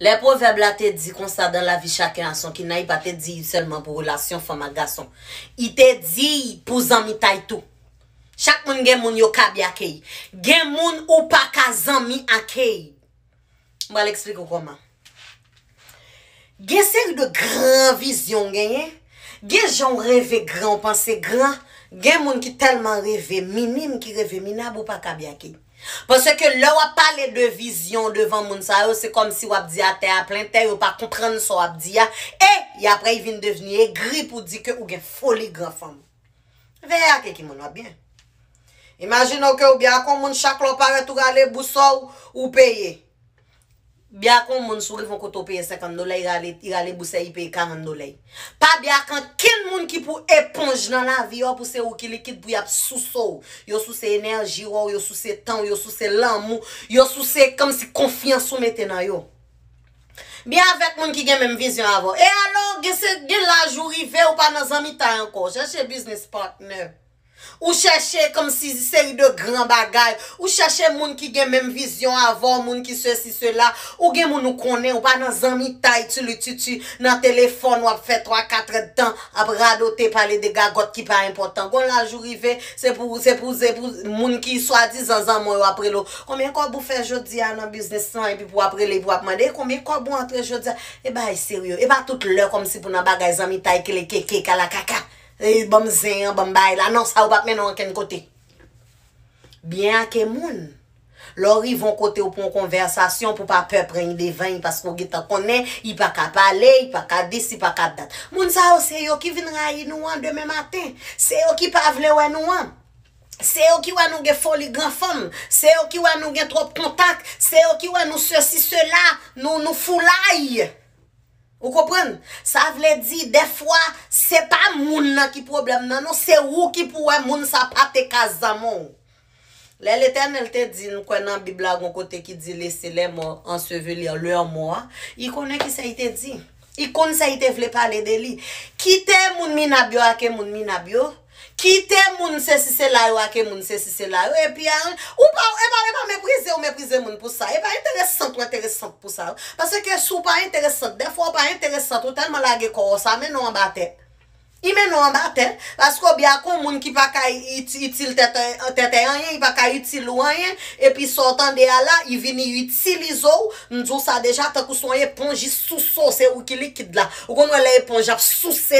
Lè pwovèb la te di konsa dan lavi chaken a son kinnay pa te di sèlman pou relasyon fanm ak gason. I te di y pou zanmitay tou. Chak moun gen moun yo kaby ake y. Gen moun ou pa ka zanmi ake y. M pral eksplike w kòman. Gen seri de gran vizyon w genyen, gen jan w reve gran w panse gran, gen moun ki tèlman reve minim ki reve minab ou pa ka byake. Paske lè w ap pale de vizyon w devan moun sa yo se kòmsi w ap di a tè a plen tè yo pa konprann sa w ap di a e y apre y vin devni egri pou di ke ou gen foli gran fanm. Veye ak eki moun w ap byen. Imajine w ke ou byen ak yon moun chak lè w parèt ou rale bouso w ou peye. Bya ak yon moun si w rive yon kote w peye 50 dollè y rale y rale bousey li peye 40 dollè pa bya ak ankenn moun ki pou eponj nan lavi w pou se ou ki likid pou yap souse w yo souse enèji w yo souse tan w yo souse lanmou yo souse kòmsi konfyans ou mete nan yo byen avèk moun ki gen menm vizyon avè w e alò gen se gen laj ou rive ou pa nan zanmitay ankò chèche biznis patnè. Ou chèche kòmsi seri de gran bagay, ou chèche moun ki gen menm vizyon avè w, moun ki sesi sela, ou gen moun ou konnen, ou pa nan zanmitay tulitutu, nan telefòn w ap fè twa katrèdtan ap radote pale de gagòt ki pa enpòtan. Gon laj ou rive, se pou, se pou, se pou moun ki swadizan zanman w yo ap rele w, konbyen kòb ou fè jodi a nan biznis lan epi pou w ap rele epi w ap mande, e konbyen kòb ou antre jodi a? E bagay serye, e pa tout lè kòmsi pou nan bagay zanmitay kelekeke, kalakaka. Eyy banm zen an banm bay la non sa yo pap mennen w ankenn kote. Byen ake moun. Lè w rive yon kote w pou yon konvèsasyon pou pa pè pran idevany paske w gentan konnen i pa ka pale, i pa ka dis, i pa ka dat. Moun sa yo se yo ki vin rayi nou an demen maten, se yo ki pa vle wè nou an, se yo ki wè nou gen foli gran fanm, se yo ki wè nou gen twòp kontak, se yo ki wè nou sesi sela, nou nou foulay. Ou konprann? Sa vle di dèfwa se pa moun nan ki pwoblèm nan non, se ou ki pou wè moun sa pa te ka zanmi w. Lè Letènèl te di n kwè nan Bib la gon kote ki di lese lè mò ansevelir lèur mò a, I konnen kisa I te di. I konn sa I te vle pale de li. Kite moun minab yo ake moun minab yo. Kite moun sesi sela yo ake moun sesi sela yo epi a ou pa ou epa epa meprize ou meprize moun pou sa epa enteresant ou enteresant pou sa paske ke si ou pa enteresant dè fwa ou pa enteresant ou tèlman lage kò ou sa mennen w anba tè i mennen w anba tè paske ou bya kon moun ki pa ka iti itil tèt an tètè anyen i pa ka itil ou anyen epi sa w tande a la i vini itilize w m di w sa deja tankou se yon eponj i souse w se ou ki likid la ou konn wè lè eponj ap souse